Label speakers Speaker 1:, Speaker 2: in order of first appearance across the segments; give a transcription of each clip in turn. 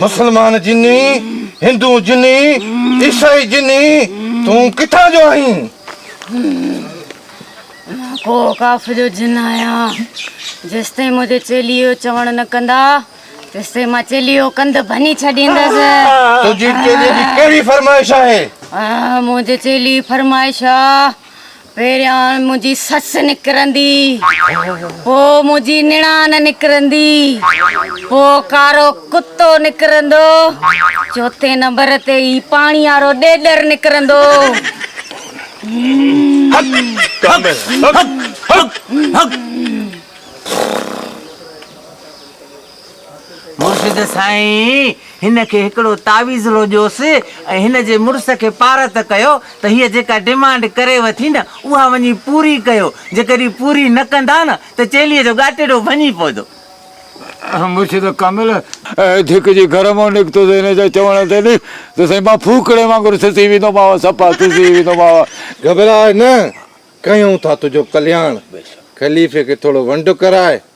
Speaker 1: مسلمان جني هندو جني عيسائي جني تون ڪٿان جو آهين؟
Speaker 2: ڪو اوقاف جو جن آهيان جيستائين منهنجي چيلي جو چوڻ نه ڪندا تيستائين مان چيلي جو ڪنڌ ڀڃي ڇڏيندس. تنهنجي چيلي
Speaker 1: جي ڪهڙي فرمائش آهي؟ منهنجي
Speaker 2: چيلي جي فرمائش آ، پهريان منهنجي سس نڪرندي، پوء منهنجي نڻان نڪرندي، پوء ڪارو ڪتو نڪرندو، چوٿين نمبر تي هي پاڻي وارو ڏيڏر نڪرندو. هڪ هڪ هڪ هڪ هڪ هڪ.
Speaker 3: مرشد سائين هن کي هڪڙو تعويذ لو ڏيوس ۽ هن جي مڙس کي پارت ڪيو ته هيء جيڪا ڊمانڊ ڪريو ٿي نه اها وڃي پوري ڪيو، جيڪڏهن پوري نه ڪندا نه ته چيلي جو ڳاٽيڏو ڀڃي پوندو.
Speaker 4: مرشد ڪامل ڌڪجي گهر مان نڪتو ته هن جي چوڻ تي نه ته سائين مان ڦوڪڻي وانگر سسي ويندومانء، سپا سسي ويندومانء. گهٻراء نه،
Speaker 1: ڪيون ٿا تنهنجو ڪلياڻ. خليفي کي ٿورو ونڊ ڪراء.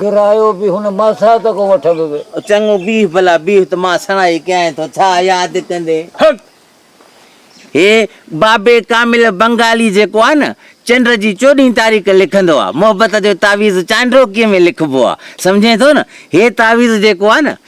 Speaker 5: ڪرايو به هن ماسات کان وٺندو ويو. او چڱو بيهه ڀلا
Speaker 3: بيهه ته مان سڻائي ڪيائين ٿو ڇا ياد ڪندين. هڪ هي بابي ڪامل بنگالي جيڪو آهي نه چنڊ جي چوڏهين تاريخ لکندو آهي محبت جو تعويذ چانڊوڪي ۾ لکبو آهي سمجهين ٿو نه هي تعويذ جيڪو آهي نه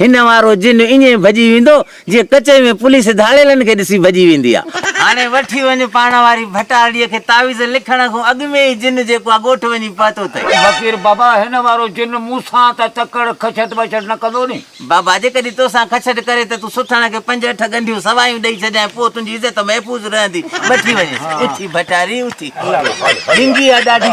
Speaker 3: هن وارو جن ائين ڀڄي ويندو جيئن ڪچهري ۾ پوليس ڌاڙيلن کي ڏسي ڀڄي ويندي آ. هاڻي وٺي وڃ پاڻ واري ڀٽارڙيء کي تعويذ لکڻ کون اڳ ۾ ئي جن جيڪو آ ڳوٺ وڃي پهتو تئي. فقير، بابا هن
Speaker 5: وارو جن مون سان ته تڪڙ کڇٽ ٻڇٽ نه ڪندو ني. بابا، جيڪڏهن تو
Speaker 3: سان کڇٽ ڪري ته تون سٺاڻ کي پنج اٺ ڳنڍيون سوايون ڏئي ڇڏيانء پوء تنهنجي عزت محفوظ رهندي. وٺي وڃيس. اٿي ڀٽاري اٿي. ڊنگي آ ڏاڍي.